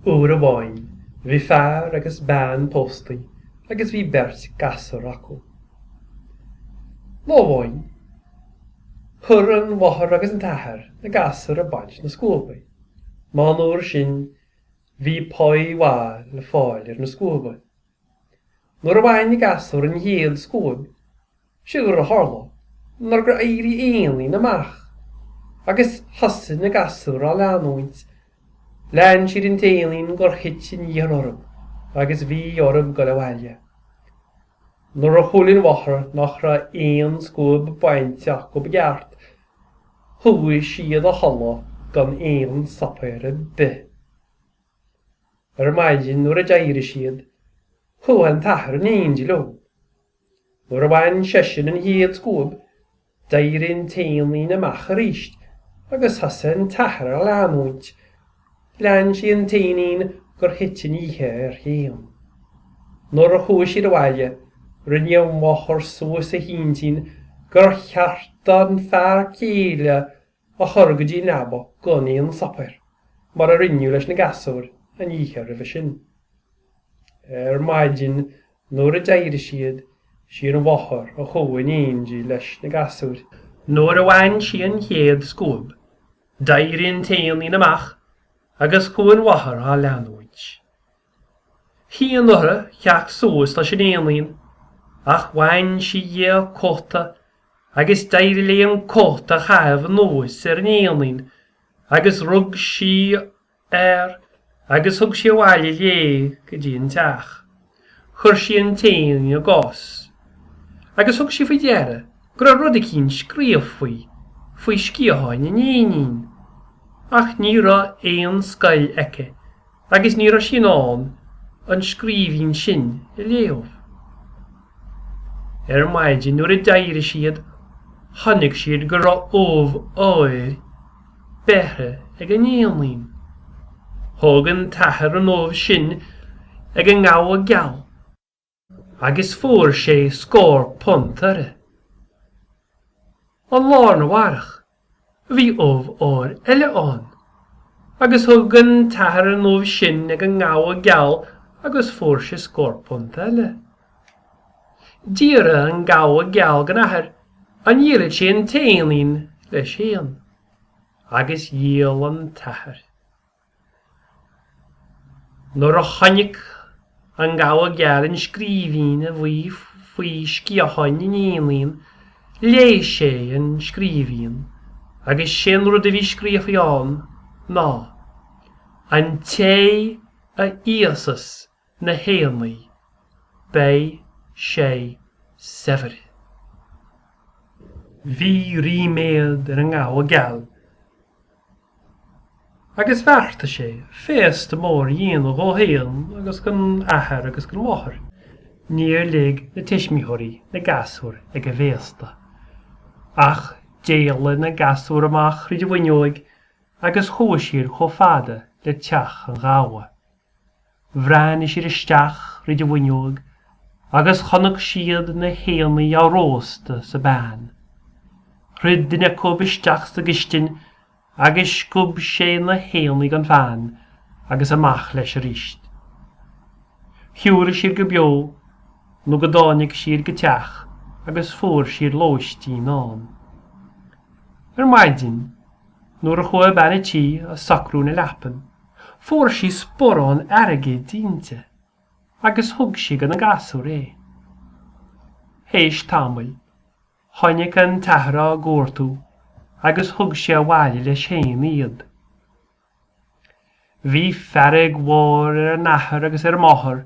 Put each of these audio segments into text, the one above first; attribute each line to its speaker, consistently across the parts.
Speaker 1: Uair amháin bhí fear agus bean póstaí agus bhí beirt gasúr acu. Lá amháin chuir an mháthair agus an t-athair na gasúir ag baint na scuaba. Mar an uair sin bhí páí mhaith le fáil ar na scuaba. Nuair a bhain na gasúir an chéad scuab Séard a tharla ná gur éirigh éinín amach agus thosaigh na gasúir á leanúint, lean siad an t-éinín gur thit an oíche orthu agus bhí orthu dul abhaile. Nuair a chuala an mháthair nach raibh aon scuab bainte acu i gceart, chuaigh siad a chodladh gan aon suipéar ar bith. Ar maidin nuair a d'éirigh siad, chuaigh an t-athair in éindí leo Nuair a bhain seisean an chéad scuab, d'éirigh an t-éinín amach arís agus thosaigh an t-athair á leanúint. Lean sé an t-éinín gur thit an oíche air féin. Nuair a chuaigh siad abhaile, rinne an mháthair suas a hintinn gur cheart an fear céile a chur go dtí an leaba gan aon suipéar, mar a rinneadh leis na gasúir an oíche roimhe sin. Ar maidin nuair a d'éirigh siad, sí an mháthair a chuaigh in éindí leis na gasúir. Nuair a bhain sí an chéad scuab, d'éirigh an t-éinín amach agus chuaigh an mháthair á leanúint. Chinn uirthi theacht suas leis an éinín, ach bhain sí dhi a cóta agus d'éirigh léi an cóta a chaitheamh anuas ar an éinín agus rug sí air agus thug sí abhaile léi go dtí an teach. Chuir sí an t-éinín i gcás agus thug sí faoi deara go raibh rud eicínt scríofa faoi sciatháin an éinín. Ach ní raibh aon scoil aici. Agus ní raibh sí in ann an scríbhinn sin a léamh. Ar maidin nuair a d'éirigh siad chonaic siad go raibh ubh óir beirthe ag an éinín. Thug an t-athair an ubh sin ag an ngabha geal. agus fuair sé scór punt uirthi. An lá arna mhárach, bhí ubh óir eile ann, agus thug an t-athair an ubh sin ag an ngabha geal agus fuair sé scór punt eile. D'iarr an gabha geal den athair an ndíolfadh sé an t-éinín leis féin, agus dhíol an t-athair. Nuair a chonaic an Gabha Geal an scríbhinn a bhí faoi sciatháin an éinín, léigh sé an scríbhinn agus 'sé an rud a bhí scríofa ann ná, An té a íosfas na haennaí, beidh sé saibhir. Bhí ríméad ar an ngabha geal agus bheartaigh sé féasta mór a dhéanamh dhó fhéin agus dhon athair agus dhon mháthair. Níor lig na tuismitheoirí na gasúir ag an bhféasta. Ach d'éalaigh na gasúir amach thríd an bhfuinneoig agus chuaigh siad chomh fada le teach an ghabha. Bhreathnaigh siad isteach thríd an bhfuinneoig agus chonaic siad na haennaí á róstadh sa bpan. Rith duine acu isteach sa gcistin agus sciob sé na haennaí den phan agus amach leis aríst. Shiúil siad go beo nó go dtáinig siad go teach agus fuair siad lóistín ann. Ar maidin. Nuair a chuaigh bean a' tí ag socrú na leapan, fuair sí sporrán airgid inti agus thug sí do na gasúir é. Théis tamaill, tháinig an t-athair á gcuartú agus thug sé abhaile leis fhéin iad. Bhí fearg mhór ar an athair agus ar an máthair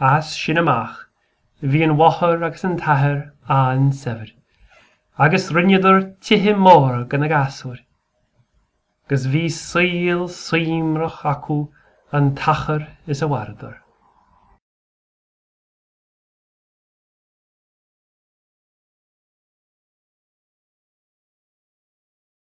Speaker 1: As sin amach, bhí an mháthair agus an t-athair an-saibhir, agus rinneadar tithe móra do na gasúir, agus bhí saol suímreach acu an t-achar is a mhaireadar.